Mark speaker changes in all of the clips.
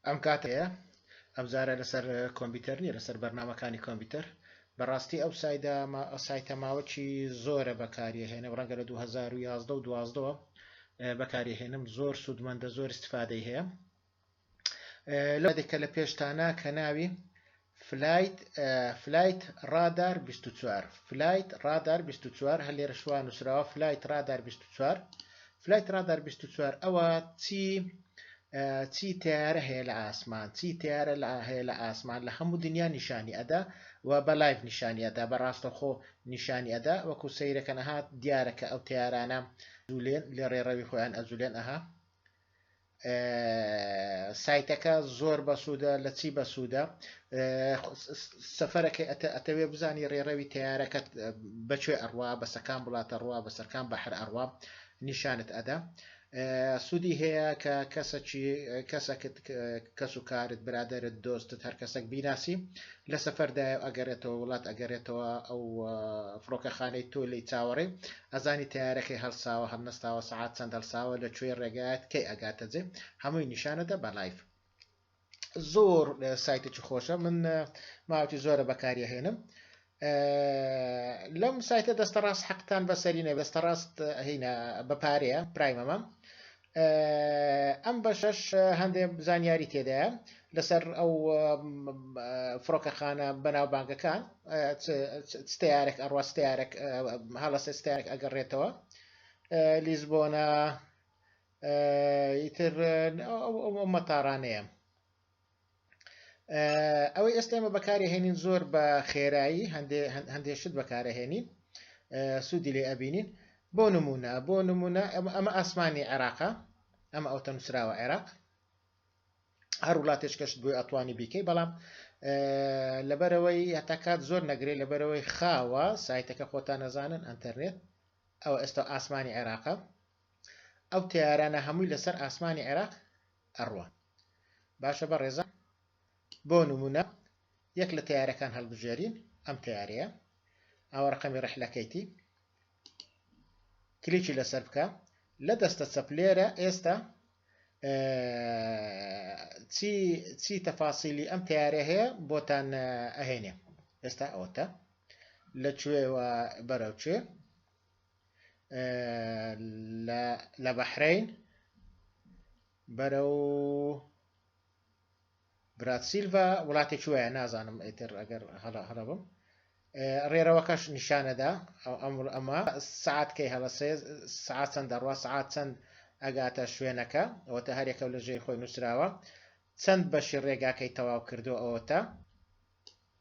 Speaker 1: ئەم کاتەیە ئەم جارە لەسەر کۆمپیوتەر نیە لەسەر بەرنمەکانی کۆمپیوتەر بەڕاستی ئەو سایدا سایتە ماوەکی زۆرە بەکاریە هێنە ڕەنگە لە 2011 و دوازدەوە بەکاریهێنم زۆر سوودمەندە زۆر استفادەی هەیە لەو یادە کە لە پێشتانە کە ناوی فلایت فلایت ڕادار 24 فلایت ڕادار 24 هەر لێرە شوان نووسراوە فلایت ڕادار 24 فلایت ڕادار 24 ئەوە چی چی تیارە هەیە لە ئاسمان چی تیارە لە هەیە لە ئاسمان لە هەموو دنیا نیشانی ئەدا و بە لایف نیشانی ئەدا بە ڕاستەخۆ نیشانی ئەدا وەکو سەیرەکە نەهات دیارە کە ئەو تیارانە زولێن لە ڕێڕەوی خۆیان ئەزولێن ئەها سایتەکە زۆر بەسوودە لە چی بەسوودە سەفەرەکەی ئەتەوێ بزانی ڕێڕەوی تیارەکەت بەکوێ ئەڕوا بەسەکان وڵاتە ڕوا بەسەرکان بە هەر ئەڕوا نیشانت ئەدا سوودی هەیە کە کەسەکی کەسەکت کەس و کارت برادرت دۆستت هەر کەسەک بیناسی لە سەفەردا ئەگەرێتەوە وڵات ئەگەرێتەوە ئەو فڕۆکەخانەی تۆ لی چاوەڕێ ئەزانی تەیارە کەی هەڵساوە هەڵنەستاوە سەعات چەند هەڵساوە لە کوێی ڕێگایەت کەی ئەگاتە جێ هەمووی نیشانەدە بە لایڤ زۆر سایتێکی خۆشە من ماوەتی زۆرە بەکاریە هێنم لەم سایتە دەستە ڕاست حەقتان بەسەرینە دەستە ڕاست هینە بەپارەیە پرایمەمە ئەم بەشەش هەندێ زانیاری تێدایە لەسەر ئەو فڕۆکەخانە بەناوبانگەکان ستارێک ئەڕوا ستارێک هەڵە سستارێک ئەگەڕێتەوە لیزبۆنە ئیتر ئەو مەتارانەیە ئەوەی ئێستا ئێمە بەکارهێنین زۆر بە خێرایی هەندێ شت بەکارهێنین سوودی لێ ئەبینین بۆ نمونە بۆ نمونە ئەمە ئاسمانی عێراقا ئەمە ئەو تەنووسراوە عێراق هەر وڵاتێک کەشت بۆی ئەتوانی بیکەی بەڵام لەبەرەوەی هەتاکات زۆر نەگرێت لەبەرەوەی خاوە سایتەکە خۆتان نەزانن ئەتەرنێت ئەو ئێستا ئاسمانی عێراقە ئەو تیارانە هەمووی لەسەر ئاسمانی عێراق ئەڕوا. باشە بەڕێزان بۆ نمونە یەک لە تەیارەکان هەڵبژێرین ئەم تەیارەیە ئەوە ڕەقەمی ڕەحلەکەیتی کلیکی لەسەر بکە لە دەستە چەپ لێرە ئێستا چی چی تەفاسیلی ئەم تیارە هەیە بۆتان ئەهێنێ ئێستا ئەوەتە لە کوێوە بەرەو کوێ لە بەحرەین بەرەو براتسیلڤە وڵاتێکی وایە نازانم ئیتر ئەگەر هەڵە هەڵە بم ڕێرەوەکەش نیشانەدا ئەو ئەمر ئەمە سعات کەی هەڵە سێ سعات چەند دەڕوا سعات چەند ئەگاتە شوێنەکە ئەوەتە هەرێکە لە ژێر خۆی نووسراوە چەند بەشی ڕێگاکەی تەواو کردو ئەوەتە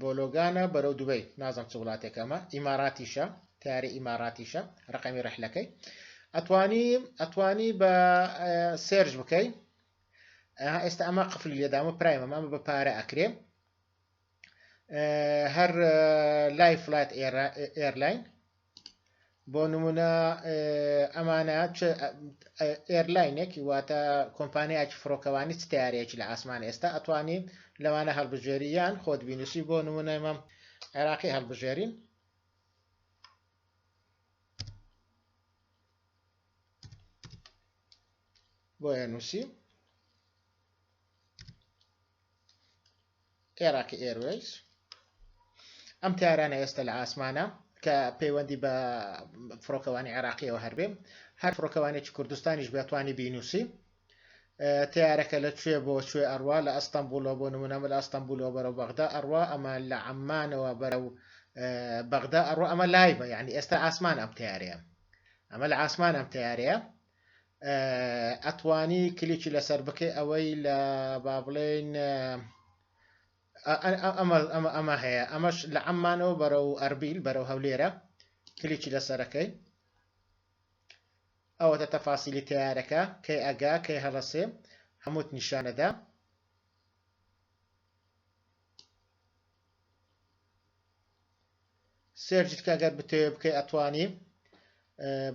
Speaker 1: بۆلۆگانە بەرەو دوبەی نازم چ وڵاتێک ئەمە ئیماراتیشە تارە ئیماراتیشە ڕقەمی ڕحلەکەی ئەتوانی ئەتوانی بە سێرج بکەی ئێستا ئەمە قفلی لێدامە پرایم ئەمە بە پارە ئەکرێ هەر لای فلات ئێرلاین بۆ نمونە ئەمانە ئێرلاینێک واتە کۆمپانیایکی فڕۆکەوانی چ تارێکی لە ئاسمان ئێستا ئەتوانی لەوانە هەڵبژێریان خۆت بینوسی بۆ نمونەمە عێراقی هەڵبژێرین بۆیە نووسی عێراقی ئێروەیز ئەم تارانە ئێستا لە ئاسمانە کە پەیوەندی بە فڕۆکەوانی عێراقیەوە هەربێ هەر فڕۆکەوانێکی کوردستانیش بێتوانی بینوسی تیارەکە لە کوێ بۆ کوێ ئەڕوا لە ئەستەمبولۆ بۆ نمونەمە لە ئەستەمبولۆ بەرەو بەغدا ئەڕوا ئەمە لە عمانەوە بەرە و بەغدا ئەڕوا ئەمە لایبە یعنی ئێستا ئاسمان ئەم تیارەیە ئەمە لە ئاسمان ئەم تیارەیە ئەتوانی کلیکی لەسەر بکەی ئەوەی لە با بڵێین ئەمە ئەمە ئەمە هەیە ئەمەش لە ئەممانەوە بەرە و ئەربیل بەرەو هەولێرە کلیکی لەسەرەکەی ئەوەتە تەفاسیلی تیارەکە کەی ئەگا کەی هەڵەسێ هەمووت نیشانەدا سێرجت کە گەر بتەوێ بکەی ئەتوانی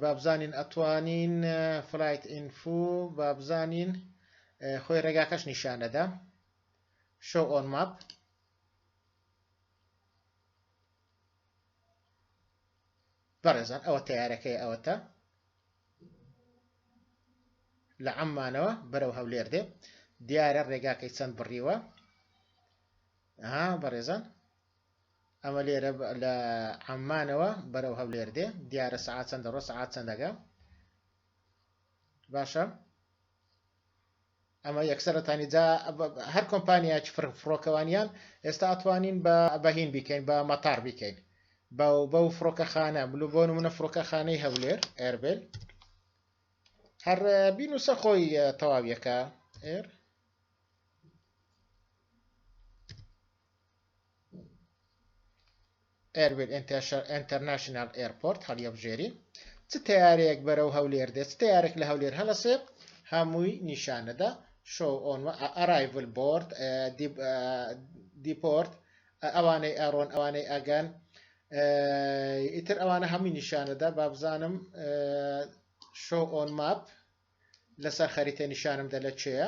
Speaker 1: بابزانین ئەتوانین فلایت ئینفو بابزانین خۆی ڕێگاکەش نیشانەدا شو ئۆن ماپ بەڕێزان ئەوە تیارەکەی ئەوەتە لە ئەممانەوە بەرەو هەولێر دێ دیارە ڕێگاکەی چەند بڕیوە ها بەڕێزان ئەمە لێرە لە عەممانەوە بەرەو هەولێر دێ دیارە سەعات چەندە ڕۆ سەعات چەندەگە باشە ئەمە یەکسەرەتانی جا هەر کۆمپانیاچ فڕۆکەوانیان ئێستا ئەتوانین بە بەهین بیکەین بە مەتار بیکەین بە و بە و فڕۆکەخانە بلو بۆ نمونە فڕۆکەخانەی هەولێر ئەربێل هەر بین و سەخۆی تەواویەکە ئێر ئێرویل ئێنتەرناشناڵ ئێرپۆرت هەڵیەبژێری چ تەیارەیەک بەرەو هەولێر دێت تەیارێک لە هەولێر هەڵەسێ هەمووی نیشانەدا شۆ ئۆن ئەرایڤل بۆرد دیپۆرت ئەوانەی ئەڕۆن ئەوانەی ئەگەن ئیتر ئەوانە هەمووی نیشانەدا بابزانم شۆ ئۆن ماپ لەسەر خەریتە نیشانم دە لە چێە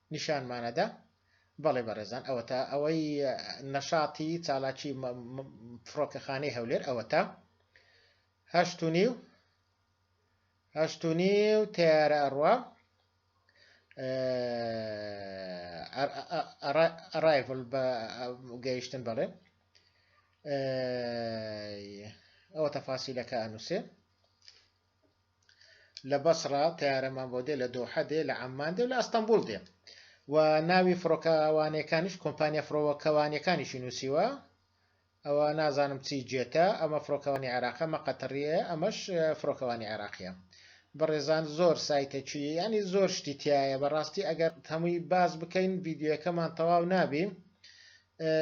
Speaker 1: نیشانمانەدا بەڵێ بەڕێزان ئەوەتا ئەوەی نەشاتی چالاکی فڕۆکەخانەی هەولێر ئەوەتا هەشت و نیو هەشت و نیو تیارە ئەڕوا ئەڕایڤل بە گەیشتن بەڵێ ئەوە تەفاسیلەکە ئەنووسێ لە بەسڕە تەیارەمان بۆ دێ لە دۆحە دێ لە عەممان دێ و لە ئەستەمبوڵ دێ و ناوی فڕۆکەوانەکانیش کۆمپانیا فڕۆکەوانیەکانیشی نووسیوە ئەوە نازانم چی جێتە ئەمە فڕۆکەوانی عێراقە مە قەتڕیە ئەمەش فڕۆکەوانی عێراقیە بەڕێزان زۆر سایتە چی ینی زۆر شتی تایە بەڕاستی ئەگەر هەمووی باز بکەین ڤیددیوەکەمان تەواو نابی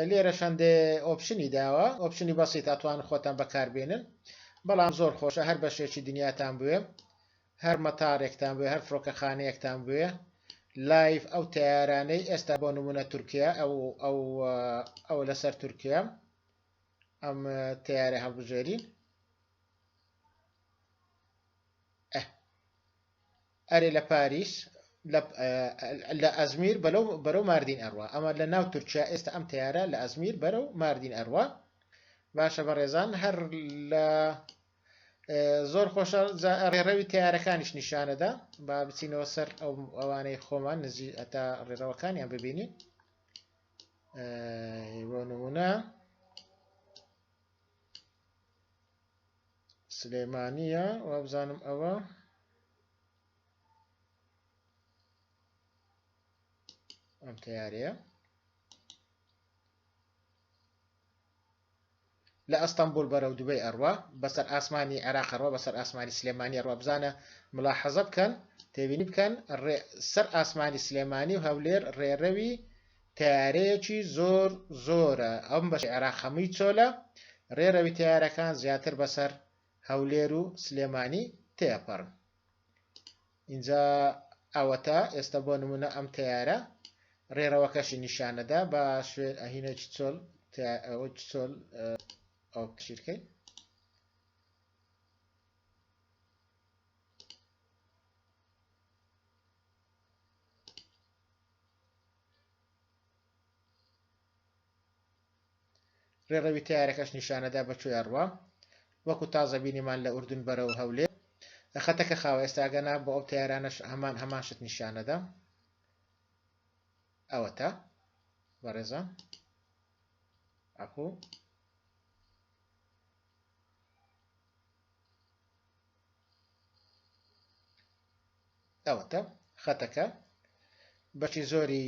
Speaker 1: لێرەش هەندێ ئۆپشنی داوە ئۆپشنی بەسیت ئەتوان خۆتان بەکاربێنن بەڵام زۆر خۆشە هەر بەشێکی دنیاتان بوێ هەر مەتارێکتان بوێ هەر فڕۆکەخانەیەکتان بوێ لایف ئەو تیارانەی ئێستا بۆ نمونە تورکیا ئەو ئەو ئەو لەسەر تورکیا ئەم تیارە هەڵبژێرین ئەرێ لە پاریس لە ئەزمیر بەرەو ماردین ئەڕوا ئەمە لە ناو تورکیا ئێستا ئەم تەیارە لە ئەزمیر بەرەو ماردین ئەڕوا باشە بەڕێزان هەر لە زۆر خۆشە ڕێڕەوی تیارەکانیش نیشانەدا با بچینەوە سەر ئەو ئەوانەی خۆمان نزی ئەتا ڕێڕەوەکانیان ببینین بۆ نمونە سلێمانیە وابزانم ئەوە ئەم تیارەیە لە ئەستەمبول بەرەو دوبەی ئەڕوا بەسەر ئاسمانی عێراق ڕۆ بەسەر ئاسمانی سلێمانی ڕۆ بزانە ملا حەزە بکەن تێبینی بکەن سەر ئاسمانی سلێمانی و هەولێر ڕێڕەوی تەیارەیەکی زۆر زۆرە ئەم بەشی عێراق هەمووی چۆلە رێرەوی تەیارەکان زیاتر بەسەر هەولێر و سلێمانی تێپەرن ئینجا ئەوەتا ئێستا بۆ نمونە ئەم تەیارە رێرەوەکەشی نیشانەدا بە شوێن ئەهینەکی چۆل چۆل ئەو پشیرکەین ڕێڕەوی تەیارەکەش نیشانەدا بە کوێ ئەڕوا وەکو تازە بینیمان لە ئوردن بەرەو هەولێ خەتەکە خاوە ئێستاگەنا بۆ ئەو تەیارانەش هەمان هەمان شت نیشانەدا ئەوەتا بەڕێزە ئەپوو ئەوەتە خەتەکە بەشی زۆری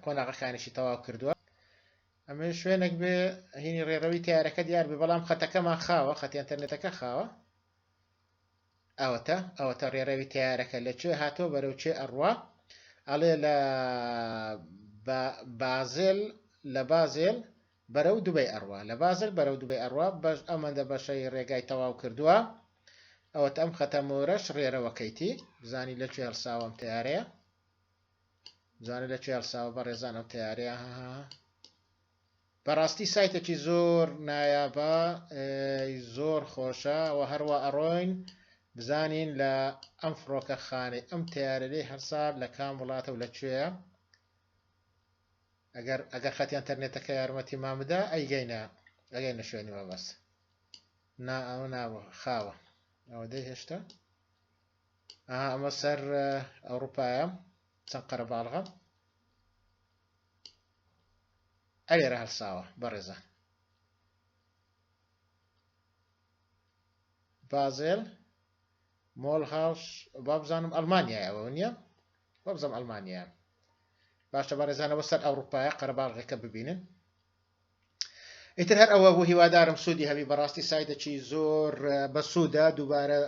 Speaker 1: قۆناغەکانیشی تەواو کردووە ئەمە شوێنێک بێ هینی ڕێڕەوی تارەکە دیار بێ بەڵام خەتەکەمان خاوە خەتی ئەتەرنێتەکە خاوە ئەوەتە ئەوەتە ڕێڕەوی تارەکە لە کوێ هاتۆ بەرەو چێ ئەڕوا ئەڵێ لە بازل لە بازل بەرەو دوبەی ئەڕوا لە بازل بەرەو دوبەی ئەڕوا بەش ئەمەندە بەشەی ڕێگای تەواو کردوە ئەوەت ئەم خەتە مۆرەش ڕێرەوە کەیتی بزانی لەکوێ هەڵساوە ئەم تەیارەیە بزانە لەکوێ هەڵساوە بەڕێزان ئەم تەیارەیە هەها بەڕاستی سایتێکی زۆر نایابە زۆر خۆشە و هەروە ئەڕۆین بزانین لە ئەم فڕۆکە خانەی ئەم تیارەی هەرسا لە کام وڵاتە و لەکوێە ئەگەر ئەگەر خەتی ئەنتەرنێتەکە یارمەتی مان بدا ئەیگەینە ئەگەینە شوێنی مەبەست نا ئەوە نابوو خاوە ئەوە دەی هێشتا ئەها ئەمە سەر ئەوروپایە چەند قەرەباڵغە ئەلێرە هەڵساوە بەڕێزە بازێل مۆلهاوس وابزانم ئەڵمانیایە ئەوە نیە وابزانم ئەڵمانیایە باشە بەڕێزان ئەوە سەر ئەوروپایە قەرەباڵغەکە ببینن ئیتر هەر ئەوە بۆ هیوادارم سوودی هەبی بەڕاستی سایدەکی زۆر بەسوودە دووبارە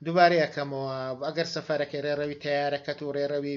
Speaker 1: دووبارەیەکەمەوە ئەگەر سەفەرەکەی ڕێڕەوی تیارەکەت و ڕێڕەوی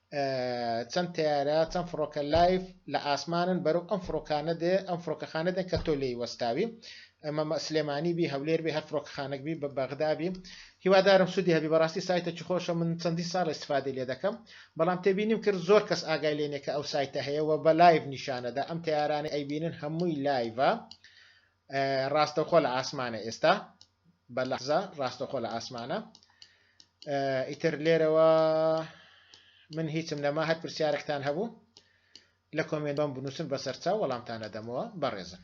Speaker 1: چەند تەیارە چەند فڕۆکە لایڤ لە ئاسمانن بەرەو ئەم فڕۆکانە دێ ئەم فڕۆکەخانە دێن کە تۆ لێی وەستاوی ئەمە مە سلێمانی بی هەولێر بی هەر فڕۆکەخانەک بی بە بەغدا بی هیوادارم سودی هەبی بەڕاستی سایتەکی خۆشە من چەندین ساڵە استفادەی لێ دەکەم بەڵام تێبینیم کرد زۆر کەس ئاگای لێ نیە کە ئەو سایتە هەیە وە بە لایڤ نیشانەدا ئەم تەیارانەی ئەیبینن هەمووی لایڤە ڕاستەوخۆ لە ئاسمانە ئێستا بە لەحزە ڕاستەخۆ لە ئاسمانە ئیتر لێرەوە من هیچم نەما هەر پرسیارێکتان هەبوو لە کۆمێنبم بنووسن بەسەرچاو وەڵامتانە دەمەوە بەڕێزن